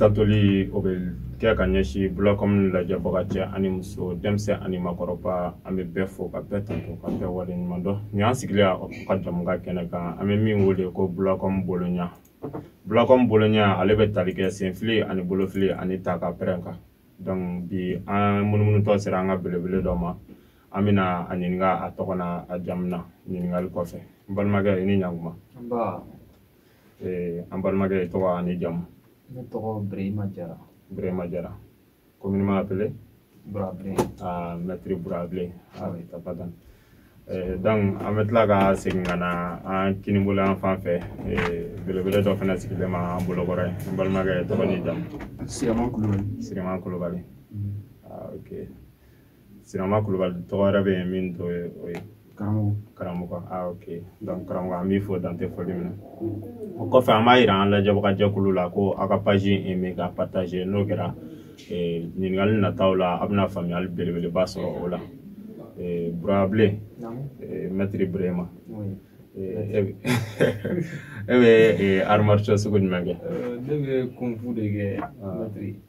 tandoli o bɛ kɛ ka ɲɛsin bulakɔmu lajɛbaga cɛ ani muso denmisɛn ani makɔrɔba an bɛ bɛɛ fo ka bɛɛ tando ka bɛɛ waleɲuman dɔn nin y'an sigilen ka jɛmukan kɛnɛ kan an bɛ min wele ko bulakɔmu boloɲa bulakɔmu boloɲa ale bɛ tali kɛ senfili ani bolofili ani ta ka pɛrɛn kan donc bi an munumunutɔ sera an ka belebele dɔ ma an bɛna a ɲininka a tɔgɔ na a jamu na ɲininkali kɔfɛ n balimakɛ i ni ɲankuma an balimakɛ i tɔgɔ ani jamu ne tɔgɔ birahima jara birahima jara communément appelé Bourablé. Ah, maître Bourablé. Ah oui, t'as pas donné. Eh, donc an bɛ tila ka segin ka na an kinibolo yan fan fɛ eh, belebele dɔ fana sigilen ma an bolokɔrɔ ye n balimakɛ tɔgɔ ni jamu sirama kulubali sirama kulubali mm. ah, ok sirama kulubali tɔgɔ wɛrɛ bɛ yen min t'o ye o ye karamɔgɔ karamɔgɔ a ah, ok donc karamɔgɔ an b'i fo dan tɛ foli min na o kɔfɛ an b'a yira an lajɛbaga jɛkulu la ko aw ka page aimer ka partager n'o kɛra eh, ɲininkali nataw la a bɛna faamuyali belebeleba sɔrɔ o la eh, burabile eh, mɛtiri burema e bɛ arts martiaux sugu jumɛn kɛ ne bɛ kunfu de kɛ mɛtiri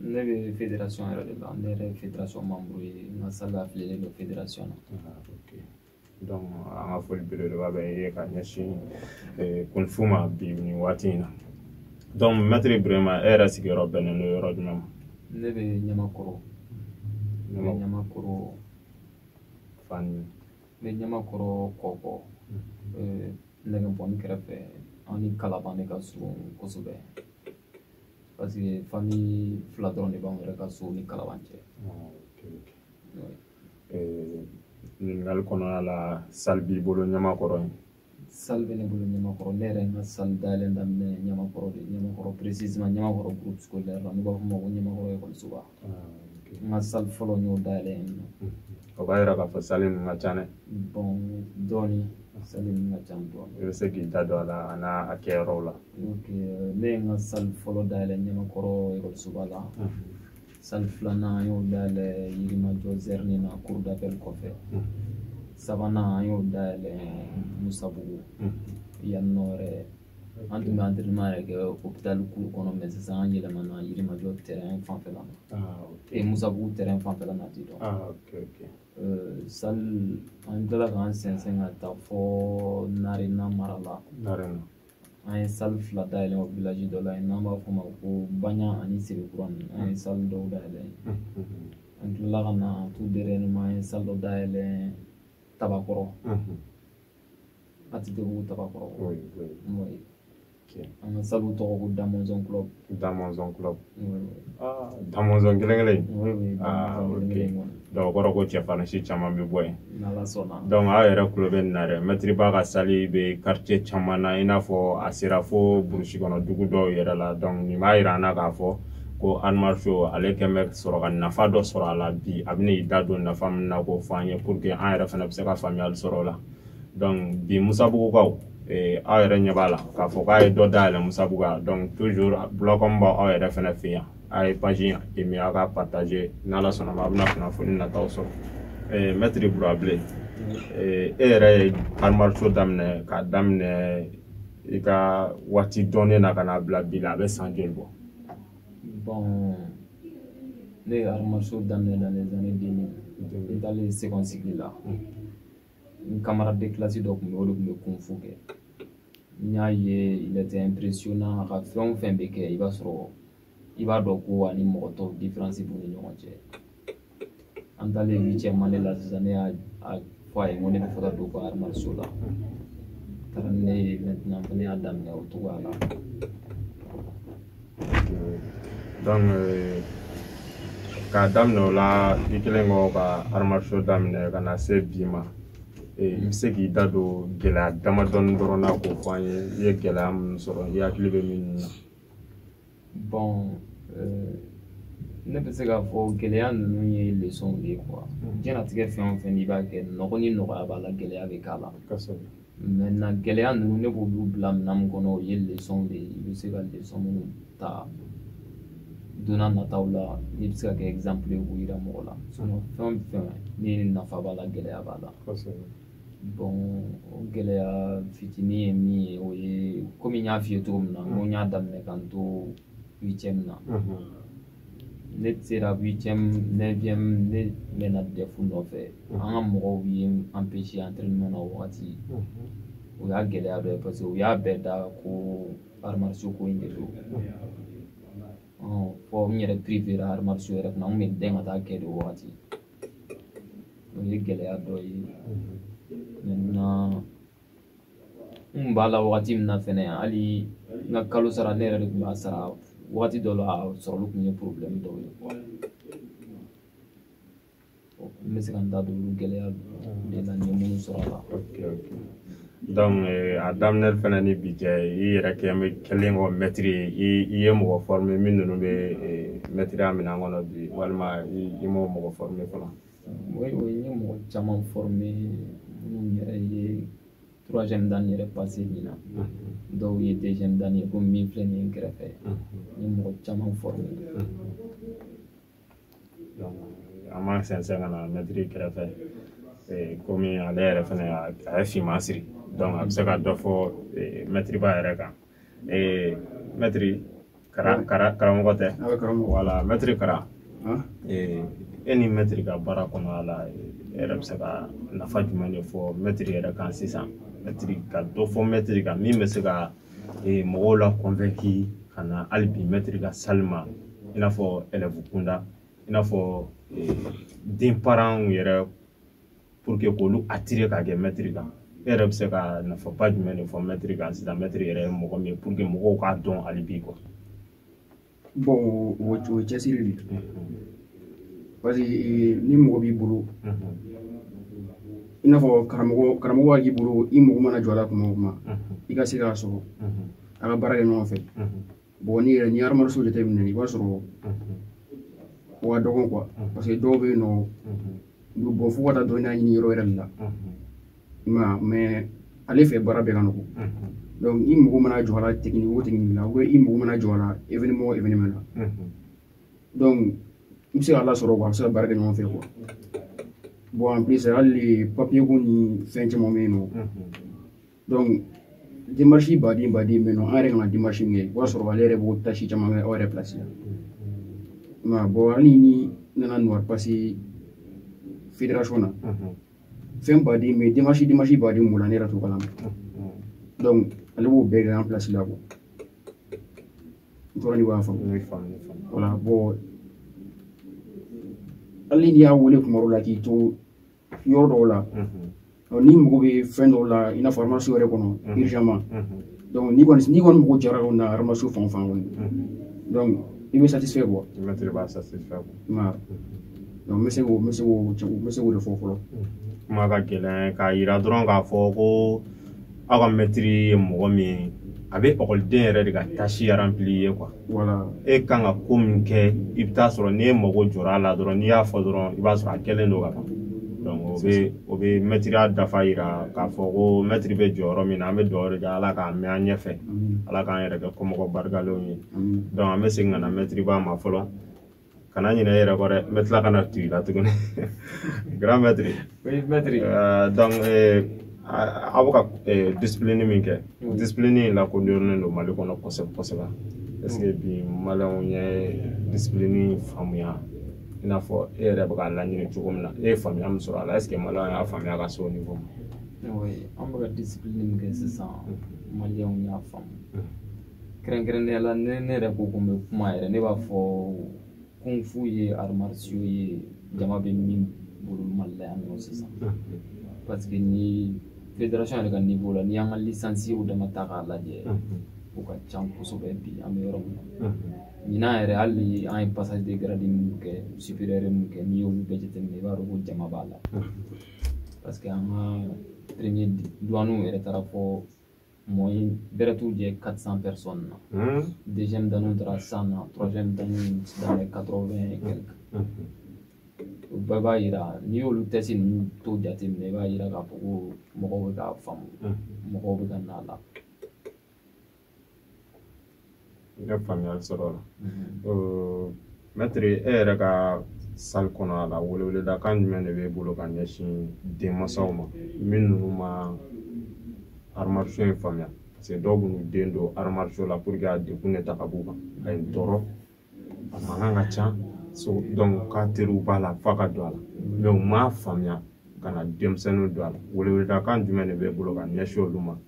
ne bɛ federasɔn yɛrɛ de la ne yɛrɛ ye federasɔn manburu ye n ka sali afiliyelen don federasɔn na donc an ka foli belebeleba bɛ ye ka ɲɛsin kunfu ma bi nin waati in na donc mɛtiri burema e yɛrɛ sigiyɔrɔ bɛnnen don yɔrɔ jumɛn ma ne bɛ ɲamakɔrɔ ne bɛ ɲamakɔrɔ fan n bɛ ɲamakɔrɔ kɔkɔ nɛgɛbɔni kɛrɛfɛ an ni kalaban de ka surun kosɛbɛ parce que famille fila dɔrɔn de b'anw yɛrɛ ka so ni kalaban cɛ ɲininkali kɔnɔna la sali b'i bolo ɲamakɔrɔ yen sali bɛ ne bolo ɲamakɔrɔ ne yɛrɛ ye n ka sali dayɛlɛ daminɛ ɲamakɔrɔ de ɲamakɔrɔ précisément ɲamakɔrɔ groupe scolaire la n'u b'a fɔ o ma ko ɲamakɔrɔ ekɔlisoba n ka sali fɔlɔ n y'o dayɛlɛ yen nɔ o b'a yira k'a fɔ sali ninnu ka ca dɛ bon dɔɔni sali ninnu ka ca dɔɔni i bɛ se k'i da don a la a n'a kɛyɔrɔw la ne ye n ka sali fɔlɔ dayɛlɛ ɲamakɔrɔ ekɔlisoba la sali filanan an y'o dayɛlɛ yirimajɔ zɛrini na cour d'appel kɔfɛ sabanan an y'o dayɛlɛ musabugu yan nɔ yɛrɛ an tun bɛ entraînement yɛrɛ kɛ hôpital cour kɔnɔ mais sisan an yɛlɛmana yirimajɔ terrain fanfɛla na e musabugu terrain fanfɛla na ten donc salle an tilala k'an sɛnsɛn ka taa fɔ narena mara la an ye salle fila dayɛlɛ o village dɔ la yen n'an b'a fɔ o ma ko banya ani sebekura ninnu an ye salle dɔw dayɛlɛ an tilala ka na tout dernièrement an ye salle dɔ dayɛlɛ tabakɔrɔ atetebugu tabakɔrɔ oui oui n'o ye okay. an ka salle tɔgɔ ko damonzon club damonzon club ah damonzon kelen kelen oui oui ah ok donc o kɔrɔ ko cɛfarinsi caman bɛ bɔ yen n'ala sɔnna donc aw yɛrɛ tulo bɛ nin na dɛ mɛtiri ba ka salle bɛ quartier caman na i n'a fɔ a sera fo burusi kɔnɔ dugu dɔw yɛrɛ la donc nin b'a yira an na k'a fɔ ko arts martiaux ale kɛlen bɛ sɔrɔ ka nafa dɔ sɔrɔ a la bi a bɛ n'i da don nafa min na k'o fɔ an ye pour que an yɛrɛ fana bɛ se ka faamuyali sɔrɔ o la bi musabugukaw aw yɛrɛ ɲɛ b'a la k'a fɔ k'a ye dɔ dayɛlɛ musabugu la donc toujours bulɔkɔn b'aw aw yɛrɛ fana fɛ yan a ye page aimer aw ka partager n'ala sɔnna a bɛna kunnafoni nataw sɔrɔ mɛtiri burabilen e yɛrɛ ye arts martiaux daminɛ k'a daminɛ i ka waati dɔnnen na ka n'a bila bi la a bɛ san joli bɔ bon ne ye arts martiaux daminɛ dans les années deux mille n taalen second cycle la n camarade de classe dɔ tun bɛ o de tun bɛ kung fu kɛ n y'a ye il était impressionnant a ka fɛn o fɛn bɛ kɛ i b'a sɔrɔ i b'a dɔn ko ani mɔgɔ tɔw différence b'u ni ɲɔgɔn cɛ an taalen huitième année la sisan ne y'a fɔ a ye n ko ne bɛ fɛ ka don ko arts martiaux la taara ni ne ye maintenant ne fana y'a daminɛ o cogoya la donc euh, k'a daminɛ o la i kɛlen kɔ ka arts martiaux daminɛ ka na se bi ma i eh, bɛ se k'i da don gɛlɛya damadɔni dɔrɔn na k'o fɔ an ye i ye gɛlɛya minnu sɔrɔ i hakili bɛ min na bon euh, ne bɛ se k'a fɔ gɛlɛya ninnu ye lesɔnw de ye quoi mm. diɲɛnatigɛ fɛn o fɛn n'i b'a kɛ nɔgɔ ni nɔgɔya b'a la gɛlɛya bɛ k'a la maintenant gɛlɛya ninnu ne b'olu bila minɛn min kɔnɔ o ye lesɔnw de ye i bɛ se ka lesɔn minnu ta don nataw la n'i bɛ se ka kɛ exemple ye k'u yira mɔgɔ la sinon fɛn o fɛn ni nafa b'a la gɛlɛya b'a la bon o gɛlɛya fitinin ye min ye o ye komi n y'a f'i ye cogo min na n ko n y'a daminɛ ka n to huitième na ne sera huitième neuvième ne mɛnna DEF nɔfɛ an ka mɔgɔw ye n empêcher entraînement na o wagati o y'a gɛlɛya dɔ ye parce que u y'a bɛɛ da ko arts martiaux ko in de don fɔ n yɛrɛ privera arts martiaux yɛrɛ kunna n tun bɛ dɛn ka taa kɛ de o wagati o ye gɛlɛya dɔ ye maintenant n kun b'a la wagati min na fɛnɛ hali n ka kalo sara ne yɛrɛ de tun b'a sara wagati dɔ la a sɔrɔli tun ye problème dɔw ye n bɛ se ka n da don olu gɛlɛya de la n ye minnu sɔrɔ a la donc a daminɛ fana ni bi cɛ i yɛrɛ kɛ kɛlen kɔ mɛtiri ye i i ye mɔgɔ former min ninnu bɛ eh, mɛtiriya minɛn kɔnɔ bi walima i m'o mɔgɔ former fɔlɔ oui oui n ye mɔgɔ caman former minnu yɛrɛ ye troisième dan yɛrɛ passer min na dɔw ye deuxième dan ye komi min filɛ nin ye n kɛrɛfɛ n ye mɔgɔ caman former an b'an sɛnsɛn ka na mɛtiri kɛrɛfɛ komi ale yɛrɛ fɛnɛ a ye finman siri donc a bɛ se ka dɔ fɔ mɛtiriba yɛrɛ kan mɛtiri karamɔgɔ tɛ voilà mɛtiri Kara e ni mɛtiri ka baara kɔnɔna la e yɛrɛ bɛ se ka nafa jumɛn de fɔ mɛtiri yɛrɛ kan sisan mɛtiri ka dɔ fɔ mɛtiri kan min bɛ se ka ee mɔgɔw la convaincre ka na hali bi mɛtiri ka salle ma i n'a fɔ élève kunda i n'a fɔ den paranw yɛrɛ pour que k'olu attirer ka kɛ mɛtiri kan e yɛrɛ bɛ se ka nafaba jumɛn de fɔ mɛtiri kan sisan mɛtiri yɛrɛ ye mɔgɔ min ye pour que mɔgɔw k'a dɔn hali bi quoi bon o o cɛsiri de parce que ni mɔgɔ b'i bolo i n'a fɔ karamɔgɔ karamɔgɔ b'a k'i bolo i mago mana jɔ a la kuma o kuma i ka se k'a sɔrɔ a ka baara kɛ ɲɔgɔn fɛ bon n'i yɛrɛ ni arts martiaux jateminɛ i b'a sɔrɔ o ka dɔgɔn quoi parce que dɔw bɛ yen nɔ Bon fo ka taa dɔnniya ɲini yɔrɔ wɛrɛ de la mais mais ale fɛ baara bɛɛ ka nɔgɔ donc i mago mana jɔ a la technique o technique na ou bien i mago mana jɔ a la événement o événement na donc i bɛ se k'a lasɔrɔ quoi a bɛ se ka baara kɛ ɲɔgɔn fɛ quoi bon en plus hali papier ko ni fɛn caman bɛ yen nɔ démarche baden baden bɛ yen nɔ an yɛrɛ kan ka démarche min kɛ i b'a sɔrɔ ale yɛrɛ b'o tâche caman kɛ aw yɛrɛ place la nka bon hali ni n nana noire passer fédération na fɛn baden bɛ yen démarche démarche baden b'o la ne yɛrɛ t'o kalama donc ale b'o bɛɛ kɛ an place la quoi n tora n'i b'a faamu voilà bon hali n'i y'a wele kuma dɔ la k'i to yɔrɔ dɔw la n'i mago bɛ fɛn dɔw la i n'a fɔ arts martiaux yɛrɛ kɔnɔ urgemment donc n'i kɔni n'i kɔni mago jɔra o na arts martiaux fan o fan kɔni donc i bɛ satisfait quoi donc n bɛ se k'o n bɛ se k'o n bɛ se k'o de fɔ fɔlɔ kuma ka gɛlɛn k'a yira dɔrɔn k'a fɔ ko aw ka mɛtiri ye mɔgɔ min ye a bɛ ekɔliden yɛrɛ de ka tâche rempli ye quoi e kan ka ko min kɛ i bɛ taa sɔrɔ n'e mago jɔra a la dɔrɔn n'i y'a fɔ dɔrɔn i b'a sɔrɔ a kɛlen don ka ban o bɛ o bɛ mɛtiriya dafa yira k'a fɔ ko mɛtiri bɛ jɔyɔrɔ min na an bɛ dugawu de kɛ ala k'a mɛn an ɲɛfɛ ala k'an yɛrɛ kɛ kɔmɔgɔ barikalenw ye an bɛ segin ka na mɛtiriba ma fɔlɔ kana ɲinɛ i yɛrɛ kɔ dɛ n bɛ tila ka na tugu i la tuguni grand maître oui maître euh, donc euh, aw bɛ ka euh, discipline min kɛ discipline in lakodɔnnen don mali kɔnɔ kosɛbɛ kosɛbɛ est ce que bi maliyɛnw ye discipline faamuya i n'a fɔ e yɛrɛ bɛ k'a laɲini cogo min na e ye faamuya min sɔrɔ a la est ce que maliyɛnw y'a faamuya ka se o niveau ma oui an bɛ ka discipline min kɛ sisan maliyɛnw y'a faamu kɛrɛnkɛrɛnnenya la ne ne yɛrɛ ko ko n bɛ kuma yɛrɛ ne b'a fɔ kung fu ye arts martiaux ye jama bɛ min bolo mali la yan nɔ sisan parce que ni fédération yɛrɛ ka niveau la n'i y'an ka lisansiw dama ta k'a lajɛ o ka ca kosɛbɛ bi an bɛ yɔrɔ min na ɲinan yɛrɛ hali an ye passage de grade minnu kɛ supérieur minnu kɛ n'i y'olu bɛɛ jateminɛ i b'a dɔn ko jama b'a la parce que an ka premier duwaniw yɛrɛ taara fɔ moyen bɛrɛ t'u jɛ 400 personnes na hmm. deuxième danw taara 100 na troisième danw dans les 80 et quelques hmm. o bɛɛ b'a yira n'i y'olu test ninnu to jateminɛ i b'a yira k'a fɔ ko mɔgɔw bɛ k'a faamu hmm. mɔgɔw bɛ ka na a la n ye faamuyali sɔrɔ o la mɛtiri e yɛrɛ ka salle kɔnɔ a la weleweledakan jumɛn de b'e bolo ka ɲɛsin denmansaw ma min ninnu ma arts martiaux in faamuya parce que dɔw b'u den don arts martiaux la pour que a degun de ta ka b'u kan a ye tɔɔrɔ a mankan ka ca so donc k'a teriw b'a la f'a ka don a la mais u m'a faamuya ka na denmisɛnninw don a la weleweledakan jumɛn de b'e bolo ka ɲɛsin olu ma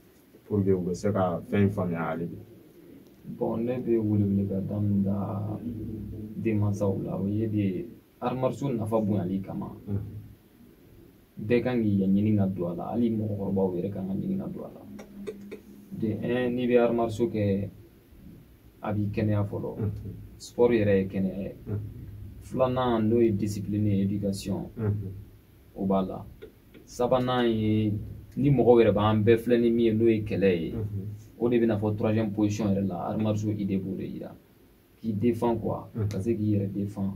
pour que u bɛ se ka fɛn in faamuya hali bi bon ne bɛ weleweledakan min da denmansaw la o ye de arts martiaux nafa bonyali kama bɛɛ kan k'a ɲini ka don a la hali mɔgɔkɔrɔbaw yɛrɛ kan k'a ɲini ka don a la de un n'i bɛ arts martiaux kɛ a b'i kɛnɛya fɔlɔ sport yɛrɛ ye kɛnɛya ye filanan n'o ye discipline ye éducation o b'a la sabanan ye ni mɔgɔw yɛrɛ b'an bɛɛ filɛ ni min ye n'o ye kɛlɛ ye o de bɛ na fɔ troisième position yɛrɛ la arts martiaux idée b'o de yira k'i défend quoi ka se k'i yɛrɛ défend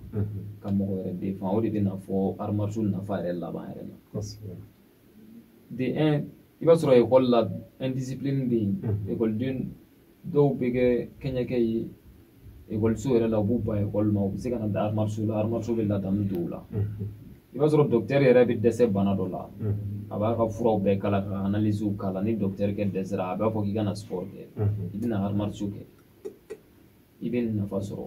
ka mɔgɔ yɛrɛ défend o de bɛ na fɔ arts martiaux nafa yɛrɛ laban yɛrɛ la de un i b'a sɔrɔ ekɔli la indiscipline bɛ yen ekɔliden dɔw bɛ kɛ kɛɲɛkɛ ye ekɔliso yɛrɛ la u b'u ban ekɔli ma u bɛ se ka na da arts martiaux la arts martiaux bɛ ladamu don u la i b'a sɔrɔ docteur yɛrɛ bɛ dɛsɛ bana dɔ la a b'a ka furaw bɛɛ k'a la ka analiziw k'a la ni docteur kɛ dɛsɛra a b'a fɔ k'i ka na sport kɛ i bɛna arts martiaux kɛ i bɛ nafa sɔrɔ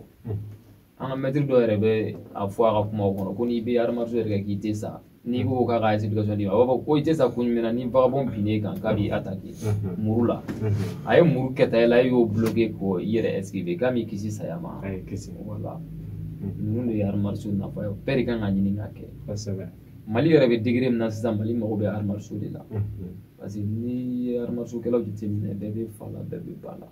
an ka mɛtiri dɔ yɛrɛ bɛ a fɔ a ka kumaw kɔnɔ ko n'i bɛ arts martiaux yɛrɛ kɛ k'i tɛ sa n'i ko k'a ka explication d'i ma a b'a fɔ ko i tɛ sa kun jumɛn na ni vagabond binn'e kan k'a b'i attaqué muru la a ye muru kɛta i la e y'o bloqué k'o i yɛrɛ esquiver k'a m'i kisi saya ma a y'i kisi voilà ninnu de ye arts martiaux nafa ye bɛɛ de kan ka ɲini k'a kɛ kosɛbɛ mali yɛrɛ bɛ degré min na sisan mali mago bɛ arts martiaux de la parce que n'i ye arts martiaux kɛlaw jateminɛ bɛɛ bɛ fa la bɛɛ bɛ ba la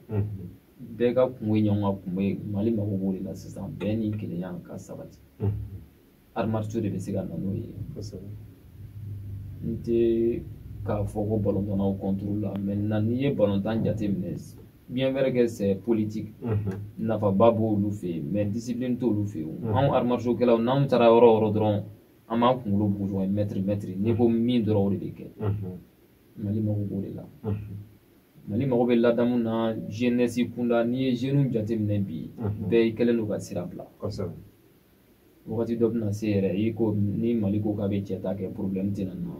bɛɛ ka kungo ye ɲɔgɔn ka kungo ye mali mago b'o de la sisan bɛn ni kelenya ka sabati arts martiaux de bɛ se ka na n'o ye n tɛ k'a fɔ ko balontannaw contre la maintenant n'i ye balontan jateminɛ bien vrai que c'est politique nafaba b'olu fɛ yen mais discipline t'olu fɛ yen anw arts martiaux kɛlaw n'anw taara yɔrɔ o yɔrɔ dɔrɔn an b'an kunkolo bugu ɲɔgɔn ye mɛtiri mɛtiri n'i ko min dɔrɔn o de bɛ kɛ mali mago b'o de la mali mago bɛ ladamu na jeunesse kunda n'i ye jeunes jateminɛ bi bɛɛ kɛlen don ka sira bila wagati dɔ bɛna se yɛrɛ i ko ni mali ko k'a bɛ cɛ ta kɛ problème tɛna na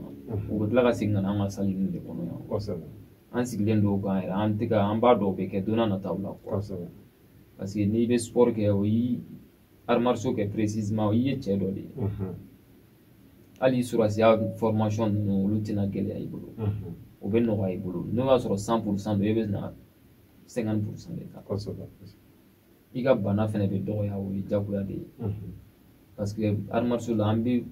u bɛ tila ka segin ka na an ka salle ninnu de kɔnɔ yan an sigilen don o kan yɛrɛ en tout cas an b'a dɔn o bɛ kɛ don nataw la parce que n'i bɛ sport kɛ o y'i arts martiaux kɛ précisément i ye cɛ dɔ de ye hali sɔrɔdasiya formation ninnu olu tɛna gɛlɛya i bolo o bɛ nɔgɔya i bolo n'o y'a sɔrɔ cent pour cent don e bɛ na cinquante pour cent de ta i ka bana fɛnɛ bɛ dɔgɔya o ye jagoya de ye parce que arts martiaux la an bɛ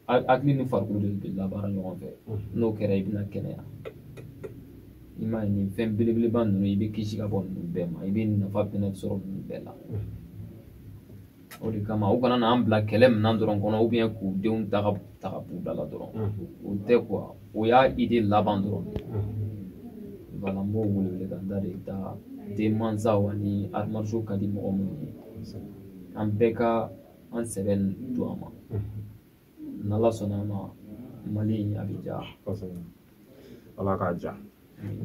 hakili ni farikolo de bɛ labaara ɲɔgɔn fɛ n'o kɛra i bɛna kɛnɛya i m'a ye nin fɛn belebeleba ninnu i bɛ kisi ka bɔ ninnu bɛɛ ma i bɛ nafa fɛnɛ sɔrɔ ninnu bɛɛ la o de kama u kana n'an bila kɛlɛ minɛn dɔrɔn kɔnɔ k'u denw ta ka ta ka b'u da la dɔrɔn o tɛ o y'a idée laban dɔrɔn voilà n b'o wele wele ka n da de da denmansaw ani arts martiaux ka di mɔgɔ minnu ye an bɛɛ ka an sɛbɛ don a ma n'ala sɔnna a ma mali a bɛ diya ala k'a diya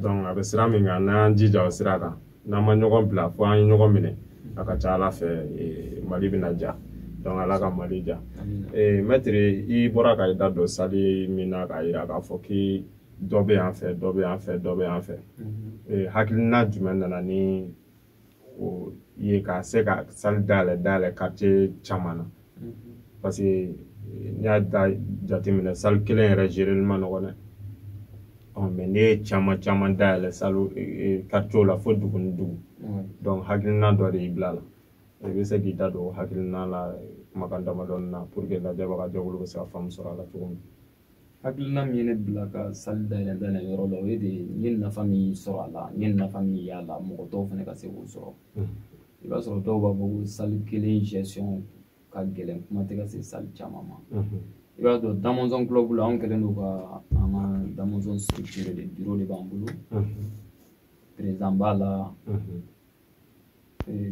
donc a bɛ sira min kan n'an y'an jija o sira kan n'an ma ɲɔgɔn bila fo an ye ɲɔgɔn minɛ a ka ca ala fɛ mali bɛna diya donc ala ka mali diya mɛtiri i bɔra ka i da don salle min na k'a yira k'a fɔ k'i dɔ bɛ yan fɛ dɔ bɛ yan fɛ dɔ bɛ yan fɛ hakilina jumɛn nana ni o ye ka se ka salle dayɛlɛ dayɛlɛ quartier caman na mhm. parce que n'i y'a da jateminɛ salle kelen yɛrɛ gereli ma nɔgɔn dɛ mais n'i ye caman caman dayɛlɛ salo quartier la fo dugu ni dugu donc hakilina dɔ de y'i bila la i bɛ se k'i da don o hakilina la kumakan damadɔni na pour que lajɛbagajɛkulu bɛ se ka faamu sɔrɔ a la cogo min hakilina min ye ne bila ka salle dayɛlɛ dayɛlɛ yɔrɔ la o ye de n ye nafa min sɔrɔ a la n ye nafa min y'a la mɔgɔ tɔw fana ka se k'o sɔrɔ i b'a sɔrɔ dɔw b'a fɔ ko salle kelen gestion ka gɛlɛn kuma tɛ ka se salle caman ma i b'a dɔn damɔzɔn club la anw kɛlen don ka an ka damɔzɔn structure de biro de b'an bolo président b'a la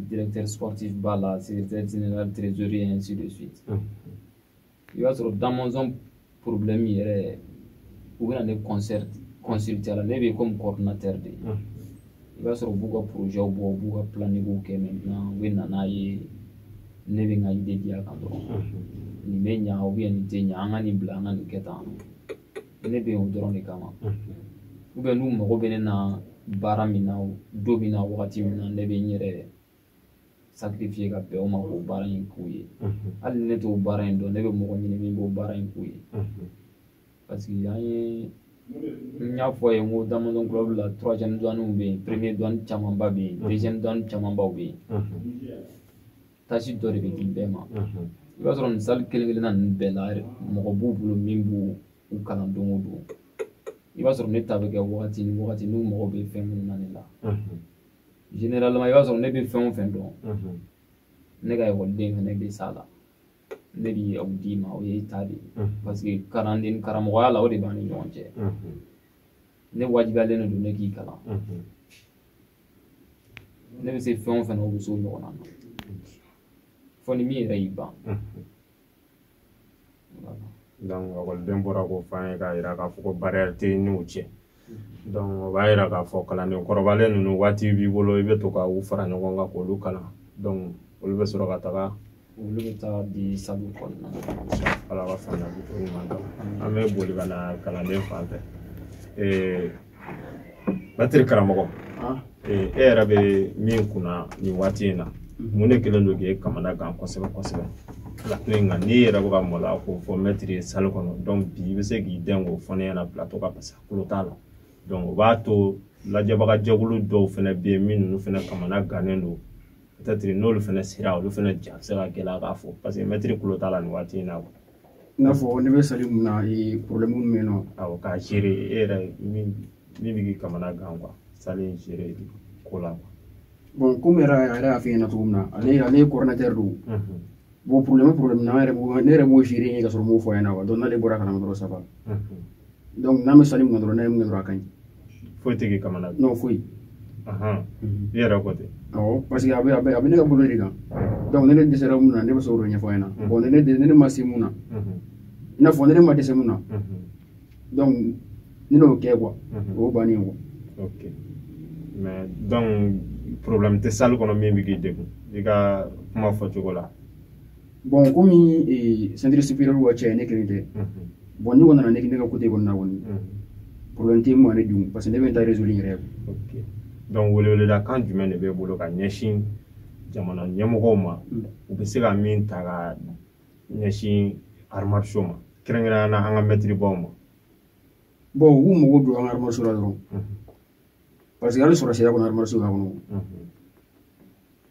directeur sportif b'a la secrétaire général trésorier ainsi de suite i b'a sɔrɔ damɔzɔn problème yɛrɛ u bɛna ne concert consulter la ne bɛ comme coordinateur de ye i b'a sɔrɔ u b'u ka projet bɔ u b'u ka planningiw kɛ maintenant u bɛ na n'a ye ne bɛ n ka idée di a kan dɔrɔn nin bɛ ɲa ou bien nin tɛ ɲa an ka nin bila an ka nin kɛ tan ne bɛ yen o dɔrɔn de kama ou bien n'u mago bɛ ne na baara min na don min na wagati min na ne bɛ n yɛrɛ sacrifier ka bɛn o ma k'o baara in k'u ye hali ne t'o baara in dɔn ne bɛ mɔgɔ ɲini min b'o baara in k'u ye parce que an ye n y'a fɔ a ye n ko damɔzɔn club la troisième duanw bɛ yen premier duan camanba bɛ yen deuxième duan camanbaw bɛ yen tâche dɔ de bɛ di bɛɛ ma i b'a sɔrɔ nin salle kelen kelenna ninnu bɛɛ la mɔgɔ b'u bolo min b'u kalan don o don i b'a sɔrɔ ne ta bɛ kɛ wagati ni wagati n'u mago bɛ fɛn minnu na ne la généralement i b'a sɔrɔ ne bɛ fɛn o fɛn dɔn ne ka ekɔliden fana bɛ s'a la ne b'o d'i ma o y'i ta de ye parce que kalanden karamɔgɔya la o de b'an ni ɲɔgɔn cɛ ne wajibiyalen de don ne k'i kalan ne bɛ se fɛn o fɛn na o bɛ s'o ɲɔgɔn na fo ni min yɛrɛ y'i ban ekɔliden bɔra k'o fɔ an ye k'a yira k'a fɔ ko barrière t'i n'u cɛ donc o b'a yira k'a fɔ kalanden kɔrɔbalen ninnu waati b'i bolo i bɛ to ka u fara ɲɔgɔn kan k'olu kalan donc olu bɛ sɔrɔ ka taga olu bɛ taa di sallew kɔnɔna ala ka faamuyali ko ɲuman d'an ma an bɛ boli ka na kalanden fan fɛ mɛtiri karamɔgɔ e yɛrɛ bɛ min kunna nin waati in na mun de kɛlen don k'e kamana gan kosɛbɛ kosɛbɛ plateau in kan n'i yɛrɛ bɛ ka maloya k'o fɔ mɛtiri ye salle kɔnɔ donc bi i bɛ se k'i dɛn k'o fɔ ne ɲɛna plateau kan parce que tulo t'a la donc o b'a to lajɛbaga jɛkulu dɔw fana bɛ yen min ninnu fana kamana gannen don peut-être n'olu fana sera olu fana ja bɛ se ka gɛlɛya k'a fɔ parce que mɛtiri tulo t'a la nin waati in na i n'a fɔ ne bɛ salle min na ee problème min bɛ yen nɔ awɔ k'a gérer e yɛrɛ min min bɛ k'i kamana gan quoi salle in gérer ko la quoi bon comme yɛrɛ a yɛrɛ y'a f'i ɲɛna cogo min na ale ale ye coordinateur don bon problème problème na an yɛrɛ b'o ne yɛrɛ b'o gérer ka sɔrɔ n m'o fɔ a ɲɛna quoi donc n'ale bɔra a kalama dɔrɔn ça va donc n'an bɛ salle min na dɔrɔn n'a ye mun kɛ dɔrɔn a ka ɲi foyi tɛ k'i kamana gan non foyi mhm. i yɛrɛ ko ten awɔ parce que a bɛ a bɛ a bɛ ne ka bolo de kan donc ne ne dɛsɛra mun na ne bɛ se k'o ɲɛfɔ a ɲɛna bon ne ne ne ne ma se mun na i n'a fɔ ne ne ma dɛsɛ mun na donc n'ale y'o kɛ quoi o y'o bannen ye quoi. ok mais donc problème tɛ salle kɔnɔ min bɛ k'i degun i ka kuma fɔcogo la. bon comme ceinture supérieure ka ca ne kelen tɛ bon ne kɔni nana ne ne ka côté kɔni na kɔni problème tɛ min bɛ n degun parce que ne bɛ n ta résoudre n yɛrɛ donc weleweleda kan jumɛn de b'e bolo ka ɲɛsin jamana ɲɛmɔgɔw ma u bɛ se ka min ta ka ɲɛsin arts martiaux ma kɛrɛnkɛrɛnnenya na an ka maîtrebaw ma bon u k'u mago don an ka arts martiaux la dɔrɔn parce que hali sɔrɔsiya kɔnɔ arts martiaux b'a kɔnɔ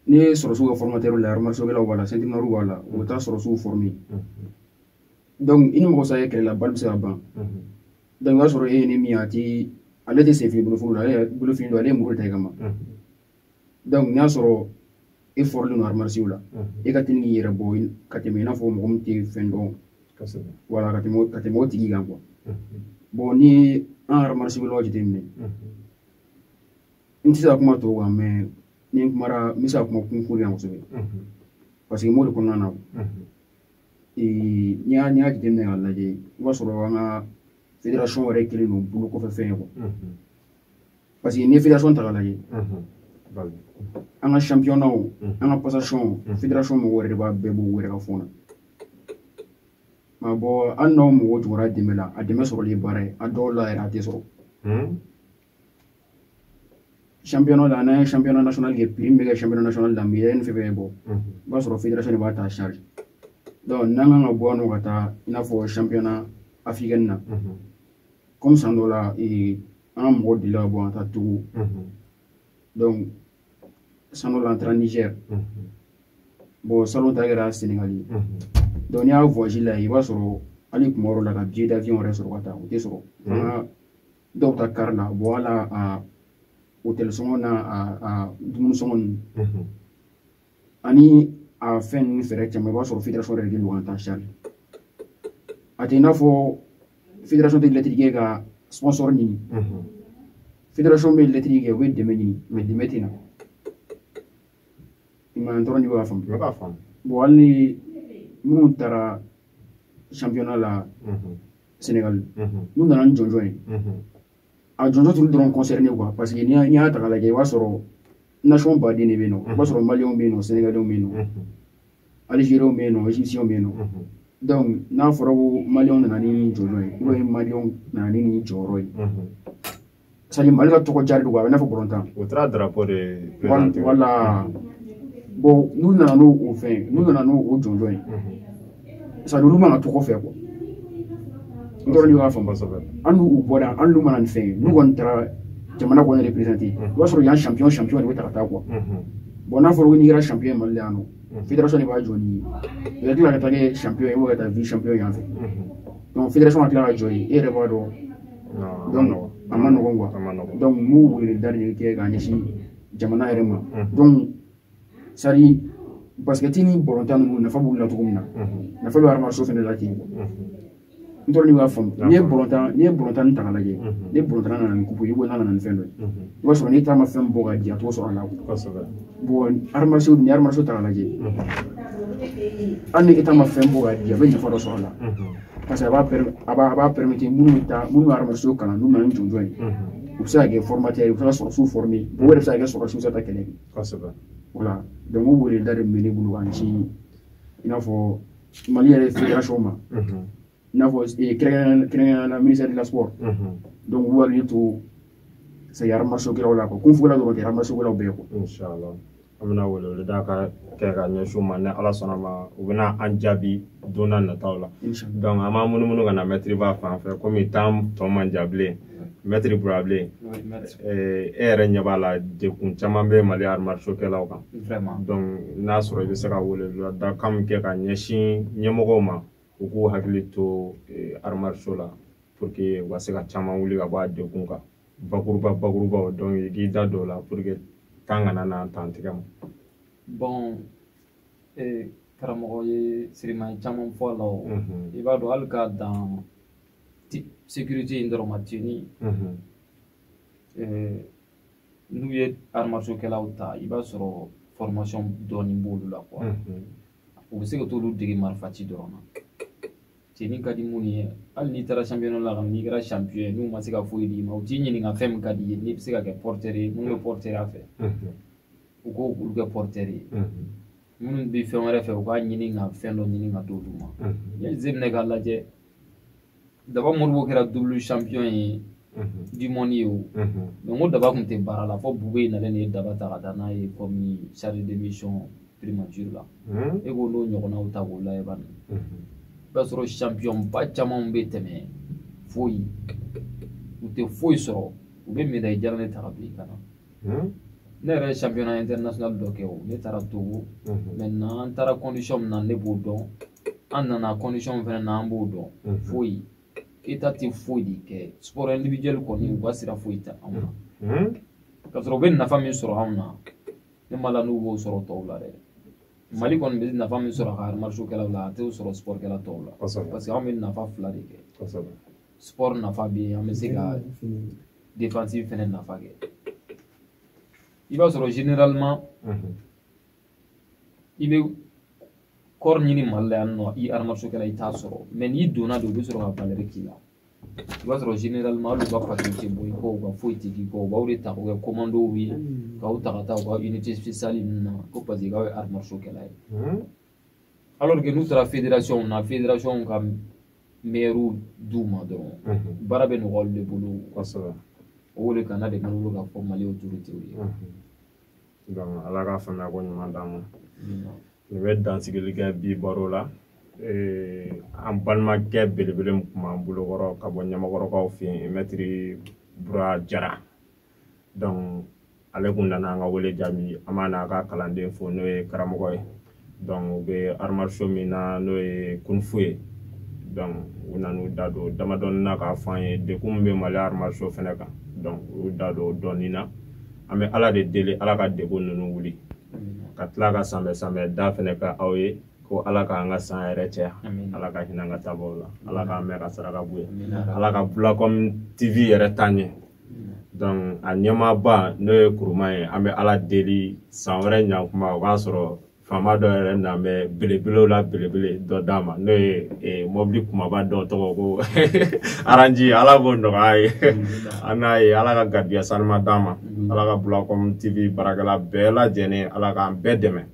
n'i ye sɔrɔsiw ka formateurw la arts martiaux kɛlaw b'a la ceintures noires b'a la u bɛ taa sɔrɔsiw former i ni mɔgɔ sa ye kɛlɛ la balle bɛ se ka ban i b'a sɔrɔ e ye ne min ye ale tɛ senfili boloforo la ale ye bolofili dɔn ale ye muru ta i kama n'i y'a sɔrɔ e formélen don arts martiaux la e ka teli k'i yɛrɛ bɔ ka tɛmɛ i n'a fɔ mɔgɔ min tɛ fɛn dɔn voilà ka tɛmɛ ka tɛmɛ o tigi kan ni an arts martiaux kɛlaw jateminɛ n tɛ se ka kuma tɔw kan mais ni n kumara n bɛ se ka kuma kung-fu kan kosɛbɛ parce que n b'o de kɔnɔna na n'i y'a n'i y'a jateminɛ k'a lajɛ i b'a sɔrɔ an ka fédération yɛrɛ kɛlen don bolo kɔfɛ fɛn ye quoi parce que n'i ye fédération ta k'a lajɛ an ka championnatw an ka passationw fédération mɔgɔw yɛrɛ de b'a bɛɛ bɔ u yɛrɛ ka fonds na bon hali n'aw mɔgɔw jɔra dɛmɛ la a dɛmɛ sɔrɔli ye baara ye a dɔw la yɛrɛ a tɛ sɔrɔ championnat la n'an ye championnat national kɛ prix min bɛ kɛ championnat national la médaille ni fɛn fɛn bɛ bɔ i b'a sɔrɔ fédération de b'a ta charge donc n'an kan ka bɔ yan nɔ ka taa i n'a fɔ championnat africaine na comme san dɔ la an ka mɔgɔ delila ka bɔ ka taa Togo donc san dɔ la an taara Niger bon salon ta kɛra Sénégal ye donc n'i y'a voyage la i b'a sɔrɔ hali kuma yɔrɔ la ka billet d'avion yɛrɛ sɔrɔ ka taa o tɛ sɔrɔ an ka dɔw ta kari la wala a hotɛli sɔngɔ n'a dumuni sɔngɔ ninnu mhm. ani a fɛn ninnu frais caman i b'a sɔrɔ federation yɛrɛ de don k'an ta charge a tɛ i n'a fɔ federation tɛ lɛtiri kɛ ka sponsor ɲini mhm. federation bɛ lɛtiri kɛ u bɛ dɛmɛ ɲini mais dɛmɛ tɛ na i ma n t'a dɔn n'i b'a faamu bɔn hali ni minnu taara championnat la mhm. Sénégal n'u nana ni jɔnjɔn ye a jɔnjɔn t'olu dɔrɔn concerné quoi parce que n'i y'a ta k'a lajɛ i b'a sɔrɔ nation baden de bɛ yen nɔ i b'a sɔrɔ maliyɛnw bɛ yen nɔ sénégalais bɛ yen nɔ algériens bɛ yen nɔ égyptiens bɛ yen nɔ donc n'a fɔra ko maliyɛnw nana ni jɔnjɔn ye ou bien maliyɛnw nana ni nin jɔyɔrɔ ye c'est-à-dire mali ka tɔgɔ jari don kuwa a bɛ i n'a fɔ bɔlɔntan o taara darapo de présenter wala bɔn n'u nana n'o o fɛn n'u nana n'o o jɔnjɔn ye c'est-à-dire olu mana tɔgɔ fɛ kuwa n t'a dɔn n'i b'a faamu kosɛbɛ an n'u bɔra an n'u ma na ni fɛn ye n'u kɔni taara jamana kɔni représenter i b'a sɔrɔ yan champion champion de bɛ ta ka taa kuwa bɔn n'a fɔra ko n'i kɛra champion ye mali la yan nɔ fédération de bɛ jɔ n'i ye i ka tila ka taa kɛ champion ye ou ka taa vice champion yan fɛ donc fédération ka tila ka jɔ yen e yɛrɛ b'a dɔn a man nɔgɔn kuwa dɔnku n b'o wele da de kɛ k'a ɲɛsin jamana yɛrɛ ma dɔnku c'est-à-dire basikɛti ni bɔlɔntan ninnu nafa b'u la cogo min na nafa bɛ arts martiaux fana la ten n t'a dɔn n'i b'a faamu n'i ye bɔlɔntan n'i ye bɔlɔntan ta k'a lajɛ ni bɔlɔntan nana ni kupu ye ou n'a nana ni fɛn dɔ ye i b'a sɔrɔ n'État ma fɛn bɔ k'a di a t'o sɔrɔ a la arts martiaux ni arts martiaux ta k'a lajɛ hali ni État ma fɛn bɔ k'a di a bɛ nafa dɔ sɔrɔ a la paseke a b'a permettre a b'a a b'a permettre minnu bɛ taa minnu bɛ arts martiaux kalan n'u nana ni jɔnjɔn ye u bɛ se ka kɛ fɔrɔmatɛri u bɛ se ka sɔrɔdasiw fɔrɔme o yɛrɛ bɛ se ka kɛ sɔrɔ sira kelen ye kosɛbɛ wala dɔnku o wele da de bɛ ne bolo k'a ɲɛsin i n'a fɔ mali yɛrɛ federasɔn ma i n'a fɔ eh, kɛrɛnkɛrɛnnenya la ministère de la sport mhm. donc u k'u hakili to c'est-à-dire arts martiaux kɛlaw la kung fu kɛlaw dɔrɔn tɛ arts martiaux kɛlaw bɛɛ quoi inshallah an bɛna weleweleda kan kɛ k'a ɲɛsin u ma ni ala sɔnna a ma u bɛna an jaabi don nataw la donc an b'an munumunu ka na mɛtiri ba fan fɛ komi tan tɔ man jan bilen mɛtiri bura bilen eh, e yɛrɛ ɲɛ b'a la degun caman bɛ mali arts martiaux kɛlaw kan donc n'a sɔrɔ i bɛ se ka weleweleda kan min kɛ ka ɲɛsin ɲɛmɔgɔw ma u k'u hakili to eh, arts martiaux la pour que u ka se ka caman wuli ka bɔ a degun kan bakuruba bakurubaw donc i k'i da don o la pour que tan kana na tan tigɛ ma bon eh, karamɔgɔ ye sûrement caman fɔ a la o mhm. i b'a dɔn hali k'a dan sécurité in dɔrɔn ma teni mhm. eh, n'u ye arts martiaux kɛlaw ta i b'a sɔrɔ formation dɔɔni b'olu la quoi mhm. u bɛ se ka t'olu dege marifaci dɔrɔn na tenue ka di minnu ye hali n'i taara championnat la n'i kɛra champion ye n'u ma se ka foyi d'i ma u t'i ɲininka fɛn min ka di ye n'i bɛ se ka kɛ porteur ye minnu bɛ porteurya fɛ u k'o olu kɛ porteur ye minnu bɛ fɛn wɛrɛ fɛ u k'a ɲini ka fɛn dɔ ɲini ka d'olu ma yanni zeminɛ k'a lajɛ daba modibo kɛra double champion ye du monde ye o donc ko daba tun tɛ baara la fo boubèye nalen de ye daba ta ka taa n'a ye comme chargé de mission primature la e ko n'o ɲɔgɔnnaw ta k'o layɛ bani i b'a sɔrɔ champion ba camanw bɛ tɛmɛ foyi u tɛ foyi sɔrɔ u bɛ médaille jaranin ta ka bil'i kan na ne yɛrɛ ye championnat international dɔ kɛ o ne taara togo maintenant an taara condition min na ne b'o dɔn an nana condition fɛnɛ na an b'o dɔn mhm. foyi état tɛ foyi de kɛ sport individuel kɔni u ka sira foyi tɛ anw na mhm. ka sɔrɔ u bɛ nafa min sɔrɔ anw na ne ma la n'u b'o sɔrɔ tɔw la dɛ mali kɔni bɛ nafa min sɔrɔ a ka arts martiaux kɛlaw la a t'o sɔrɔ sport kɛla tɔw la parce que anw bɛ nafa fila de kɛ sport nafa bɛ yen an bɛ se ka défense fɛnɛ nafa kɛ i b'a sɔrɔ généralement i bɛ corps ɲini mali la yan nɔ i arts martiaux kɛla i t'a sɔrɔ mais n'i donna de u bɛ sɔrɔ ka valeur k'i la i b'a sɔrɔ généralement hali u ka patron tɛ bɔ i kɔ u ka foyi tɛ k'i kɔ u b'aw de ta k'u kɛ commandow ye k'aw ta ka taa u ka unité spéciale ninnu na ko parce que k'aw ye arts martiaux kɛla ye alors que n'u taara fédération na fédération ka meilleurw d'u ma dɔrɔn baara bɛ nɔgɔya olu de bolo o wele kana de bolo ka fɔ mali autorités ye ala ka faamuya ko ɲuman d'an ma nin bɛ dansigili kɛ bi baro la an balimakɛ belebele min kun b'an bolokɔrɔ ka bɔ ɲamakɔrɔkaw fɛ yen mɛtiri bura jara donc ale kun nana an ka wele jaabi an b'a n'a ka kalanden fo n'o ye karamɔgɔ ye donc u bɛ arts martiaux min na n'o ye kung fu ye donc u nan'u da don damadɔnin na k'a fɔ an ye degun min bɛ mali arts martiaux fɛnɛ kan donc u da don dɔɔni na an bɛ ala de deli ala ka degun ninnu wuli ka tila ka sanbɛ sanbɛ da fɛnɛ ka aw ye ko ala k'an ka san hɛrɛ caya ala ka hinɛ an ka taabaaw la ala k'an mɛɛn ka saraka bɔ u ye ala ka bulakɔm tv yɛrɛ taa ɲɛ donc a ɲɛmaaba n'o ye kuruma ye an bɛ ala deli san wɛrɛ ɲankuma o k'a sɔrɔ faama dɔ yɛrɛ na bɛ belebelew la belebele dɔ d'a ma n'o ye e, mɔbili kumaba dɔ tɔgɔ ko aranji ala k'o nɔgɔya ye an n'a ye ala ka garijigɛ sanuman d'a ma ala ka bulakɔm tv baarakɛla bɛɛ lajɛlen ala k'an bɛɛ dɛmɛ